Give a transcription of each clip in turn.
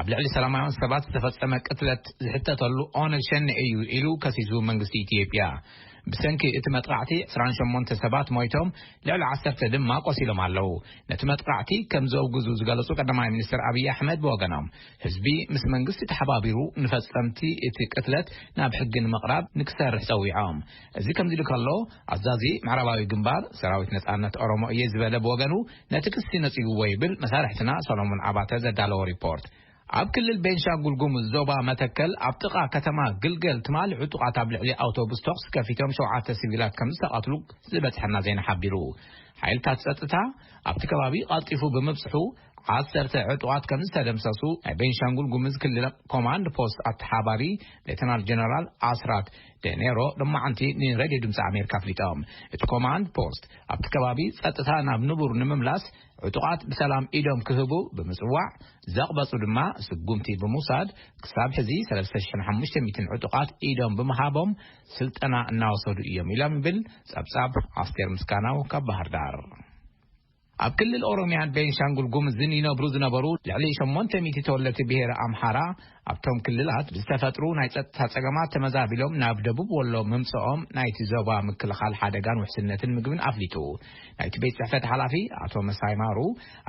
ኣብ ልዕሊ ሰላማውያን ሰባት ዝተፈጸመ ቅትለት ዝሕተተሉ ኦነግ ሸኔ እዩ ኢሉ ከሲሱ መንግስቲ ኢትዮጵያ። ብሰንኪ እቲ መጥቓዕቲ ዕስራን ሸሞንተ ሰባት ሞይቶም ልዕሊ ዓሰርተ ድማ ቆሲሎም ኣለዉ። ነቲ መጥቓዕቲ ከም ዘውግዙ ዝገለጹ ቀዳማይ ሚኒስተር ኣብይ ኣሕመድ ብወገኖም ህዝቢ ምስ መንግስቲ ተሓባቢሩ ንፈጸምቲ እቲ ቅትለት ናብ ሕጊ ንምቕራብ ንክሰርሕ ጸዊዖም። እዚ ከምዚሉ ከሎ ኣዛዚ ምዕራባዊ ግንባር ሰራዊት ነጻነት ኦሮሞ እየ ዝበለ ብወገኑ ነቲ ክሲ ነጺግዎ ይብል መሳርሕትና ሰሎሞን ኣባተ ዘዳለዎ ሪፖርት። ኣብ ክልል ቤንሻንጉል ጉሙዝ ዞባ መተከል ኣብ ጥቓ ከተማ ግልገል ትማሊ ዕጡቓት ኣብ ልዕሊ ኣውቶቡስ ተኹሲ ከፊቶም ሸውዓተ ሲቪላት ከምዝተቐትሉ ዝበጽሐና ዜና ሓቢሩ። ሓይልታት ጸጥታ ኣብቲ ከባቢ ቐልጢፉ ብምብጽሑ ዓሰርተ ዕጡቓት ከምዝተደምሰሱ ናይ ቤንሻንጉል ጉሙዝ ክልል ኮማንድ ፖስት ኣተሓባሪ ሌተናል ጀነራል ኣስራት ዴኔሮ ሎማዕንቲ ንሬድዮ ድምጺ ኣሜሪካ ኣፍሊጦም። እቲ ኮማንድ ፖስት ኣብቲ ከባቢ ጸጥታ ናብ ንቡር ንምምላስ ዕጡቓት ብሰላም ኢዶም ክህቡ ብምጽዋዕ ዘቕበጹ ድማ ስጉምቲ ብምውሳድ ክሳብ ሕዚ ሰለስተ ሽሕን ሓሙሽተ ሚእትን ዕጡቓት ኢዶም ብምሃቦም ስልጠና እናወሰዱ እዮም ኢሎም ይብል ጸብጻብ ኣስቴር ምስጋናው ካብ ባህርዳር። ኣብ ክልል ኦሮሚያን ቤንሻንጉል ጉምዝን ይነብሩ ዝነበሩ ልዕሊ ሸሞንተ ሚእቲ ተወለድቲ ብሄረ ኣምሓራ ኣብቶም ክልላት ብዝተፈጥሩ ናይ ፀጥታ ፀገማት ተመዛቢሎም ናብ ደቡብ ወሎ ምምፅኦም ናይቲ ዞባ ምክልኻል ሓደጋን ውሕስነትን ምግብን ኣፍሊጡ። ናይቲ ቤት ፅሕፈት ሓላፊ ኣቶ መሳይ ማሩ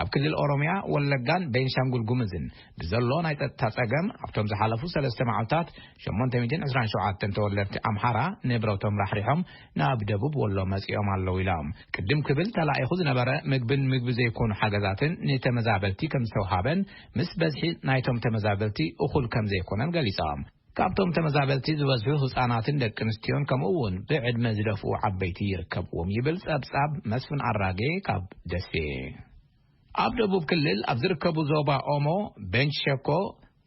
ኣብ ክልል ኦሮሚያ፣ ወለጋን ቤንሻንጉል ጉምዝን ብዘሎ ናይ ፀጥታ ፀገም ኣብቶም ዝሓለፉ ሰለስተ መዓልታት ሸሞንተ ሚእትን ዕስራን ሸውዓተን ተወለድቲ ኣምሓራ ንብረቶም ራሕሪሖም ናብ ደቡብ ወሎ መጺኦም ኣለዉ ኢሎም። ቅድም ክብል ተላኢኹ ዝነበረ ምግብን ምግቢ ዘይኮኑ ሓገዛትን ንተመዛበልቲ ከምዝተውሃበን ምስ በዝሒ ናይቶም ተመዛበልቲ እኹል ከምዘይኮነን ገሊጾም። ካብቶም ተመዛበልቲ ዝበዝሑ ህጻናትን ደቂ ኣንስትዮን ከምኡ'ውን ብዕድመ ዝደፍኡ ዓበይቲ ይርከብዎም ይብል ጸብጻብ መስፍን ኣራጌ ካብ ደሴ። ኣብ ደቡብ ክልል ኣብ ዝርከቡ ዞባ ኦሞ፣ ቤንች ሸኮ፣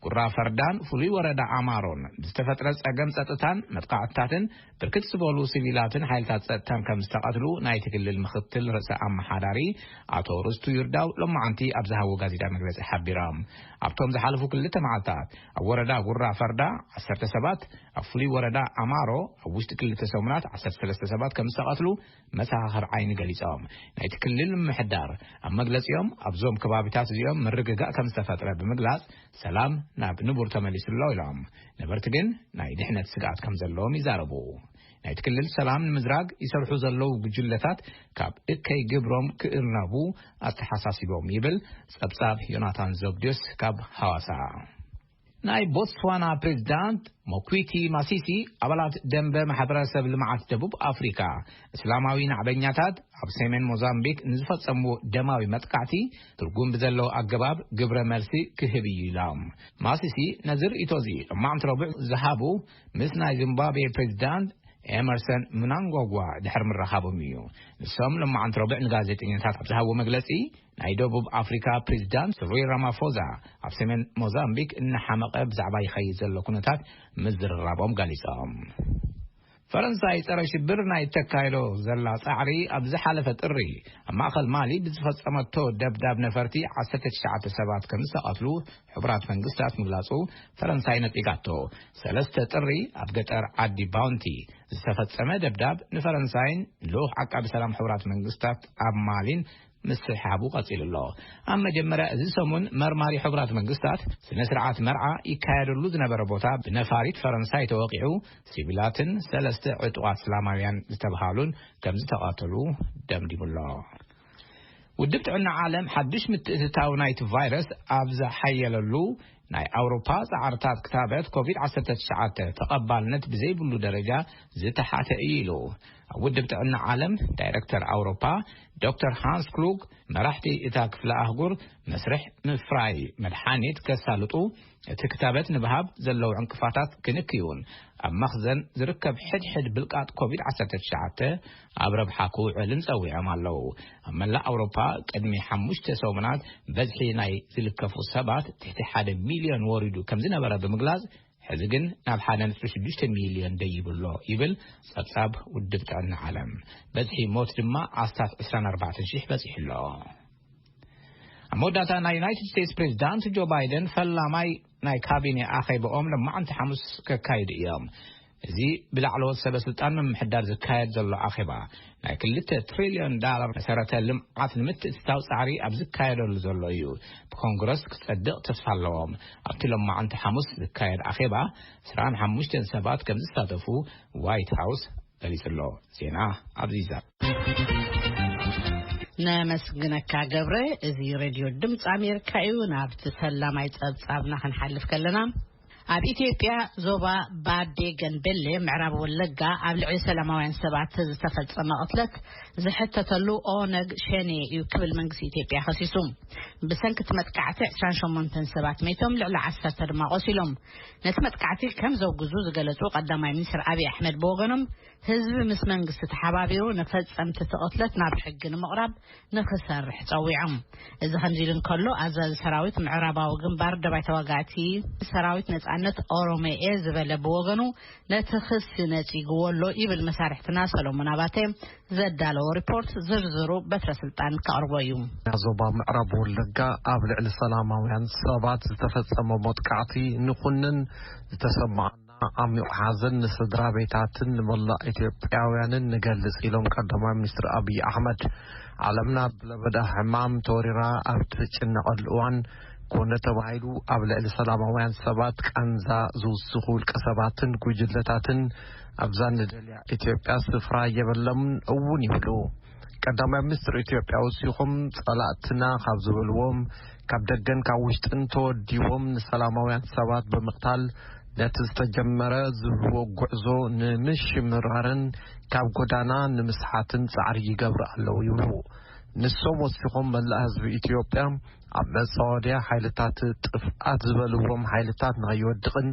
ጉራ ፈርዳን ፍሉይ ወረዳ ኣማሮን ብዝተፈጥረ ፀገም ፀጥታን መጥቓዕትታትን ብርክት ዝበሉ ስቪላትን ሓይልታት ፀጥታን ከምዝተቐትሉ ናይቲ ክልል ምኽትል ርእሰ ኣመሓዳሪ ኣቶ ርስቱ ይርዳው ሎማዕንቲ ኣብ ዝሃብዎ ጋዜጣዊ መግለፂ ሓቢሮም። ኣብቶም ዝሓለፉ ክልተ መዓልታት ኣብ ወረዳ ጉራ ፈርዳ ዓሰርተ ሰባት፣ ኣብ ፍሉይ ወረዳ ኣማሮ ኣብ ውሽጢ ክልተ ሰሙናት ዓሰርተ ሰለስተ ሰባት ከምዝተቐትሉ መሰኻኽር ዓይኒ ገሊፆም። ናይቲ ክልል ምምሕዳር ኣብ መግለፂኦም ኣብዞም ከባቢታት እዚኦም ምርግጋእ ከምዝተፈጥረ ብምግላፅ ሰላም ናብ ንቡር ተመሊሱ ኣሎ ኢሎም። ነበርቲ ግን ናይ ድሕነት ስግኣት ከምዘለዎም ይዛረቡ። ናይቲ ክልል ሰላም ንምዝራግ ይሰርሑ ዘለዉ ጉጅለታት ካብ እከይ ግብሮም ክእርነቡ ኣተሓሳሲቦም ይብል ፀብፃብ ዮናታን ዘብድዮስ ካብ ሃዋሳ። ናይ ቦትስዋና ፕሬዚዳንት ሞኲቲ ማሲሲ ኣባላት ደንበ ማሕበረሰብ ልምዓት ደቡብ ኣፍሪካ እስላማዊ ናዕበኛታት ኣብ ሰሜን ሞዛምቢክ ንዝፈፀምዎ ደማዊ መጥቃዕቲ ትርጉም ብዘለዎ ኣገባብ ግብረ መልሲ ክህብ እዩ ኢሎም። ማሲሲ ነዚ ርእይቶ እዚ ሎማዕንቲ ረቡዕ ዝሃቡ ምስ ናይ ዚምባብዌ ፕሬዚዳንት ኤመርሰን ምናንጓጓ ድሕሪ ምርኻቦም እዩ። ንሶም ሎማዕንቲ ረቡዕ ንጋዜጠኛታት ኣብ ዝሃብዎ መግለፂ ናይ ደቡብ ኣፍሪካ ፕሬዚዳንት ስሪል ራማፎዛ ኣብ ሰሜን ሞዛምቢክ እናሓመቐ ብዛዕባ ይኸይድ ዘሎ ኩነታት ምዝርራቦም ገሊፆም። ፈረንሳይ ጸረ ሽብር ናይ እተካይዶ ዘላ ጻዕሪ ኣብ ዝሓለፈ ጥሪ ኣብ ማእኸል ማሊ ብዝፈጸመቶ ደብዳብ ነፈርቲ 19 ሰባት ከም ዝተቐትሉ ሕቡራት መንግስታት ምግላጹ ፈረንሳይ ነጺጋቶ ሰለስተ ጥሪ ኣብ ገጠር ዓዲ ባውንቲ ዝተፈጸመ ደብዳብ ንፈረንሳይን ልኡኽ ዓቃቢ ሰላም ሕቡራት መንግስታት ኣብ ማሊን ምስሕሓቡ ቀጺሉ ኣሎ። ኣብ መጀመርያ እዚ ሰሙን መርማሪ ሕቡራት መንግስታት ስነ ስርዓት መርዓ ይካየደሉ ዝነበረ ቦታ ብነፋሪት ፈረንሳይ ተወቒዑ ሲቪላትን ሰለስተ ዕጡቓት እስላማውያን ዝተብሃሉን ከምዝተቐተሉ ደምዲሙ ኣሎ። ውድብ ጥዕና ዓለም ሓዱሽ ምትእትታው ናይቲ ቫይረስ ኣብ ዝሓየለሉ ናይ ኣውሮፓ ጻዕርታት ክታበት ኮቪድ ዓሰርተ ትሽዓተ ተቐባልነት ብዘይብሉ ደረጃ ዝተሓተ እዩ ኢሉ። ኣብ ውድብ ጥዕና ዓለም ዳይረክተር ኣውሮፓ ዶክተር ሃንስ ክሉግ መራሕቲ እታ ክፍለ ኣህጉር መስርሕ ምፍራይ መድሓኒት ከሳልጡ እቲ ክታበት ንብሃብ ዘለዉ ዕንቅፋታት ክንክዩን ኣብ መኽዘን ዝርከብ ሕድሕድ ብልቃጥ ኮቪድ ዓሰርተ ትሽዓተ ኣብ ረብሓ ክውዕልን ጸዊዖም ኣለዉ። ኣብ መላእ ኣውሮፓ ቅድሚ ሓሙሽተ ሰሙናት በዝሒ ናይ ዝልከፉ ሰባት ትሕቲ ሓደ ሚልዮን ወሪዱ ከም ዝነበረ ብምግላጽ፣ ሕዚ ግን ናብ ሓደ ነጥቢ ሽዱሽተ ሚልዮን ደይቡ ኣሎ ይብል ጸብጻብ ውድብ ጥዕና ዓለም። በዝሒ ሞት ድማ ኣስታት ዕስራን ኣርባዕተን ሽሕ በጺሑ ኣሎ። ኣብ መወዳእታ ናይ ዩናይትድ ስቴትስ ፕሬዚዳንት ጆ ባይደን ፈላማይ ናይ ካቢኔ ኣኼበኦም ሎማዕንቲ ሓሙስ ከካይዱ እዮም። እዚ ብላዕለዎት ሰበ ስልጣን ምምሕዳር ዝካየድ ዘሎ ኣኼባ፣ ናይ ክልተ ትሪልዮን ዳላር መሰረተ ልምዓት ንምትእትታው ፃዕሪ ኣብ ዝካየደሉ ዘሎ እዩ። ብኮንግረስ ክፀድቕ ተስፋ ኣለዎም። ኣብቲ ሎማዕንቲ ሓሙስ ዝካየድ ኣኼባ ዕስራን ሓሙሽተን ሰባት ከምዝሳተፉ ዋይት ሃውስ ገሊጹ ኣሎ። ዜና ኣብዚ ይዛብ። ነመስግነካ ገብረ እዚ ሬድዮ ድምፂ ኣሜሪካ እዩ ናብቲ ፈላማይ ፀብፃብና ክንሓልፍ ከለና ኣብ ኢትዮጵያ ዞባ ባዴ ገንቤሌ ምዕራብ ወለጋ ኣብ ልዕሊ ሰላማውያን ሰባት ዝተፈፀመ ቅትለት ዝሕተተሉ ኦነግ ሸኔ እዩ ክብል መንግስቲ ኢትዮጵያ ከሲሱ ብሰንኪ እቲ መጥቃዕቲ 28 ሰባት መይቶም ልዕሊ 10 ድማ ቆሲሎም ነቲ መጥቃዕቲ ከም ዘውግዙ ዝገለጹ ቀዳማይ ሚኒስትር ኣብዪ ኣሕመድ ብወገኖም ህዝቢ ምስ መንግስቲ ተሓባቢሩ ንፈጸምቲ እቲ ቅትለት ናብ ሕጊ ንምቕራብ ንኽሰርሕ ጸዊዖም። እዚ ከምዚ ኢሉ እንከሎ ኣዛዚ ሰራዊት ምዕራባዊ ግንባር ደባይ ተዋጋእቲ ሰራዊት ነጻነት ኦሮሞየ ዝበለ ብወገኑ ነቲ ክሲ ነጺግዎ ኣሎ ይብል መሳርሕትና ሰሎሞን ኣባተ ዘዳለዎ ሪፖርት ዝርዝሩ በትረ ስልጣን ከቕርቦ እዩ። ዞባ ምዕራብ ወለጋ ኣብ ልዕሊ ሰላማውያን ሰባት ዝተፈጸመ መጥቃዕቲ ንኹንን ዝተሰማዕ ዓሚቕ ሓዘን ንስድራ ቤታትን ንመላእ ኢትዮጵያውያንን ንገልጽ ኢሎም ቀዳማይ ሚኒስትር ኣብዪ ኣሕመድ። ዓለምና ብለበዳ ሕማም ተወሪራ ኣብ ትጭነቐሉ እዋን ኮነ ተባሂሉ ኣብ ልዕሊ ሰላማውያን ሰባት ቃንዛ ዝውስኹ ውልቀ ሰባትን ጉጅለታትን ኣብዛ ንደልያ ኢትዮጵያ ስፍራ የበሎምን እውን ይብሉ ቀዳማይ ሚኒስትር ኢትዮጵያ ወሲኹም ጸላእትና ካብ ዝበልዎም ካብ ደገን ካብ ውሽጥን ተወዲቦም ንሰላማውያን ሰባት ብምቕታል ነቲ ዝተጀመረ ዝብልዎ ጉዕዞ ንምሽምራርን ካብ ጎዳና ንምስሓትን ጻዕሪ ይገብሩ ኣለዉ ይብሉ። ንሶም ወሲኾም መላእ ህዝቢ ኢትዮጵያ ኣብ መጻወድያ ሓይልታት ጥፍኣት ዝበልዎም ሓይልታት ንኸይወድቕን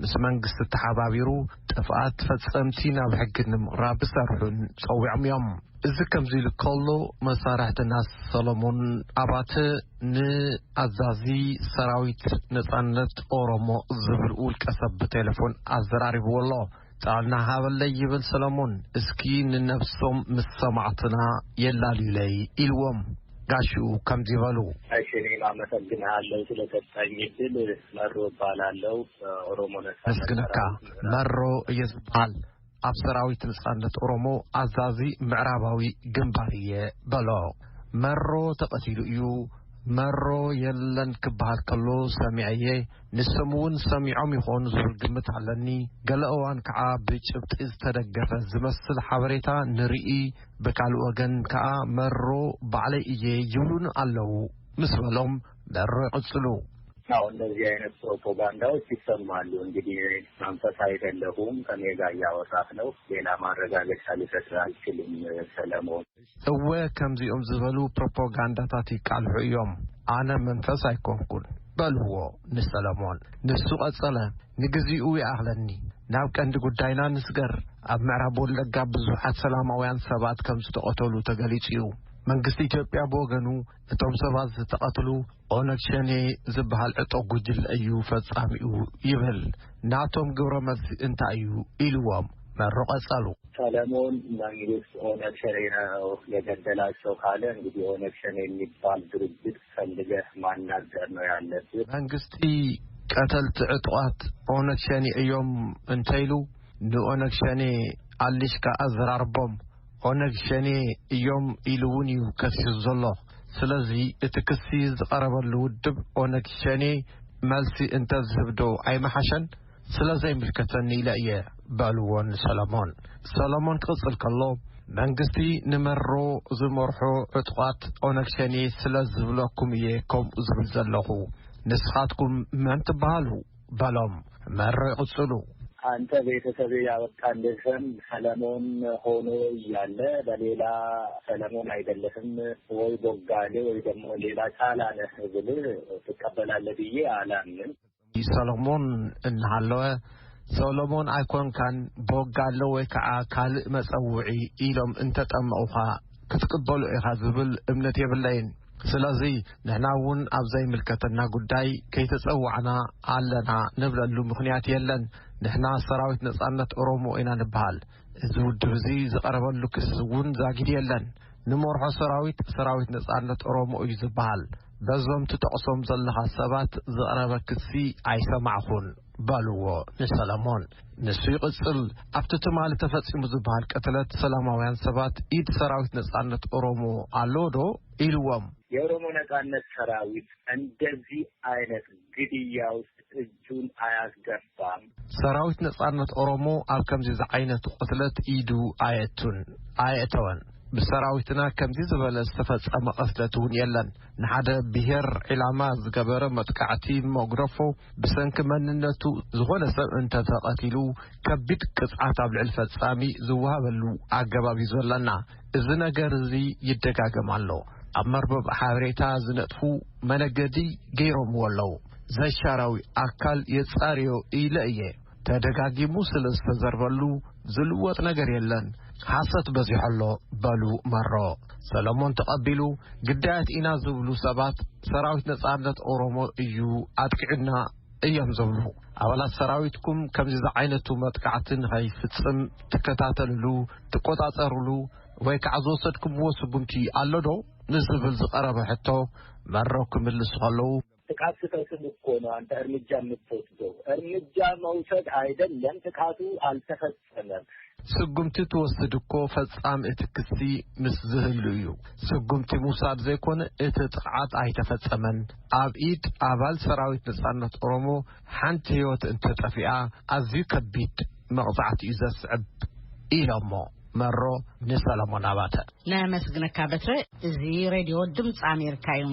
ምስ መንግስቲ ተሓባቢሩ ጥፍኣት ፈጸምቲ ናብ ሕጊ ንምቕራብ ክሰርሑን ጸዊዖም እዮም። እዚ ከምዚ ኢሉ ከሎ መሳርሕትና ሰለሞን ኣባተ ንኣዛዚ ሰራዊት ነጻነት ኦሮሞ ዝብል ውልቀሰብ ብቴለፎን ኣዘራሪብዎ ኣሎ። ጥዕና ሃበለይ ይብል ሰለሙን እስኪ ንነብሶም ምስ ሰማዕትና የላልዩለይ ኢልዎም ጋሽኡ ከምዚ በሉ። ኣሽሪም ኣመሰግንሃለው ስለሰጠኝ እድል መሮ እባላለው ኦሮሞ ነፃነት መስግነካ ሰራዊት መሮ እየ ዝብሃል ኣብ ሰራዊት ንጻነት ኦሮሞ ኣዛዚ ምዕራባዊ ግንባር እየ በሎ መሮ ተቀቲሉ እዩ መሮ የለን ክብሃል ከሎ ሰሚዐ እየ ንሶም እውን ሰሚዖም ይኾኑ ዝብል ግምት ኣለኒ፣ ገለ እዋን ከዓ ብጭብጢ ዝተደገፈ ዝመስል ሓበሬታ ንርኢ፣ ብካልእ ወገን ከዓ መሮ ባዕለይ እየ ይብሉኒ ኣለው ምስ በሎም፣ መሮ ይቕፅሉ። አዎ እንደዚህ አይነት ፕሮፖጋንዳዎች ይሰማሉ እንግዲህ እኔ መንፈስ አይደለሁም ከኔ ጋር እያወራህ ነው ሌላ ማረጋገጫ ልሰጥህ አልችልም ሰለሞን። እወ ከምዚኦም ዝበሉ ፕሮፖጋንዳታት ይቃልሑ እዮም ኣነ መንፈስ ኣይኮንኩን በልዎ ንሰለሞን ንሱ ቀጸለ ንግዚኡ ይኣኽለኒ ናብ ቀንዲ ጉዳይና ንስገር ኣብ ምዕራብ ወለጋ ብዙሓት ሰላማውያን ሰባት ከም ዝተቐተሉ ተገሊጹ እዩ መንግስቲ ኢትዮጵያ ብወገኑ እቶም ሰባት ዝተቐትሉ ኦነግ ሸኔ ዝበሃል ዕጡቕ ጉጅለ እዩ ፈጻሚኡ ይብል። ናቶም ግብረ መልሲ እንታይ እዩ? ኢልዎም መሩ ቀጸሉ። ሰለሞን መንግስት ኦነግ ሸኔ ነው የገደላቸው ካለ እንግዲህ ኦነግ ሸኔ የሚባል ድርጅት ፈልገህ ማናገር ነው ያለብህ። መንግስቲ ቀተልቲ ዕጡቓት ኦነግ ሸኔ እዮም እንተኢሉ ንኦነግ ሸኔ ኣሊሽካ ኣዘራርቦም። ኦነግ ሸኔ እዮም ኢሉ እውን እዩ ከሲሱ ዘሎ። ስለዚ እቲ ክሲ ዝቐረበሉ ውድብ ኦነግ ሸኔ መልሲ እንተዝህብ ዶ ኣይምሓሸን? ስለዘይምልከተኒ ኢለ እየ በሉዎ ንሰለሞን። ሰለሞን ክቕፅል ከሎ መንግስቲ ንመሮ ዝመርሖ ዕጡቓት ኦነግ ሸኔ ስለዝብለኩም እየ ከምኡ ዝብል ዘለኹ። ንስኻትኩም መን ትበሃሉ? በሎም መሬ ቅጽሉ። አንተ ቤተሰቤ ያበቃልህም ሰለሞን ሆኖ እያለ በሌላ ሰለሞን አይደለህም ወይ ቦጋሌ ወይ ደግሞ ሌላ ጫላ ነህ ብልህ ትቀበላለህ ብዬ አላምንም። ሰሎሞን እናሃለወ ሶሎሞን ኣይኮንካን ቦጋለ ወይ ከዓ ካልእ መፀውዒ ኢሎም እንተጠመቑኻ ክትቅበሉ ኢኻ ዝብል እምነት የብለይን ስለዚ ንሕና እውን ኣብ ዘይምልከተና ጉዳይ ከይተጸዋዕና ኣለና ንብለሉ ምኽንያት የለን ንሕና ሰራዊት ነጻነት ኦሮሞ ኢና ንበሃል እዚ ውድብ እዚ ዝቐረበሉ ክሲ እውን ዛጊድ የለን ንመርሖ ሰራዊት ሰራዊት ነጻነት ኦሮሞ እዩ ዝበሃል በዞም ትጠቕሶም ዘለኻ ሰባት ዝቕረበ ክሲ ኣይሰማዕኹን። በልዎ ንሰለሞን ንሱ ይቕጽል ኣብቲ ትማሊ ተፈጺሙ ዝበሃል ቅትለት ሰላማውያን ሰባት ኢድ ሰራዊት ነጻነት ኦሮሞ ኣለዎ ዶ ኢልዎም። የኦሮሞ ነጻነት ሰራዊት እንደዚ ኣይነት ግድያ ውስጥ እጁን ኣያስገባም። ሰራዊት ነጻነት ኦሮሞ ኣብ ከምዚ ዝዓይነቱ ቅትለት ኢዱ ኣየቱን ኣየእተወን። ብሰራዊትና ከምዚ ዝበለ ዝተፈጸመ ቅትለት እውን የለን። ንሓደ ብሄር ዒላማ ዝገበረ መጥቃዕቲ መጉደፎ ብሰንኪ መንነቱ ዝኾነ ሰብ እንተተቐቲሉ ከቢድ ቅፅዓት ኣብ ልዕሊ ፈፃሚ ዝወሃበሉ ኣገባብ እዩ ዘለና። እዚ ነገር እዚ ይደጋገም ኣሎ። ኣብ መርበብ ሓበሬታ ዝነጥፉ መነገዲ ገይሮምዎ ኣለዉ። ዘሻራዊ ኣካል የፃርዮ ኢለ እየ። ተደጋጊሙ ስለ ዝተዘርበሉ ዝልወጥ ነገር የለን ሓሰት በዚሖ ኣሎ በሉ መሮ ሰለሞን ተቐቢሉ ግዳያት ኢና ዝብሉ ሰባት ሰራዊት ነጻነት ኦሮሞ እዩ ኣጥቂዑና እዮም ዝብሉ ኣባላት ሰራዊትኩም ከምዚ ዝዓይነቱ መጥቃዕቲ ንኸይፍጽም ትከታተልሉ ትቈጻጸርሉ ወይ ከዓ ዝወሰድኩምዎ ስጉምቲ ኣሎ ዶ ንዝብል ዝቐረበ ሕቶ መረው ክምልሱ ከለዉ ጥቃት ክፈጽም እኮ ነው አንተ እርምጃ ምትወስደው እርምጃ መውሰድ አይደለም ጥቃቱ አልተፈጸመም። ስጉምቲ ትወስድ እኮ ፈጻም እቲ ክሲ ምስ ዝህሉ እዩ ስጉምቲ ምውሳድ ዘይኮነ እቲ ጥቅዓት ኣይተፈጸመን ኣብ ኢድ ኣባል ሰራዊት ነጻነት ኦሮሞ ሓንቲ ህይወት እንተጠፊኣ ኣዝዩ ከቢድ መቅጻዕቲ እዩ ዘስዕብ ኢሎሞ። መሮ ንሰለሞን ኣባተ ነመስግነካ በትረ እዚ ሬድዮ ድምፂ ኣሜሪካ እዩ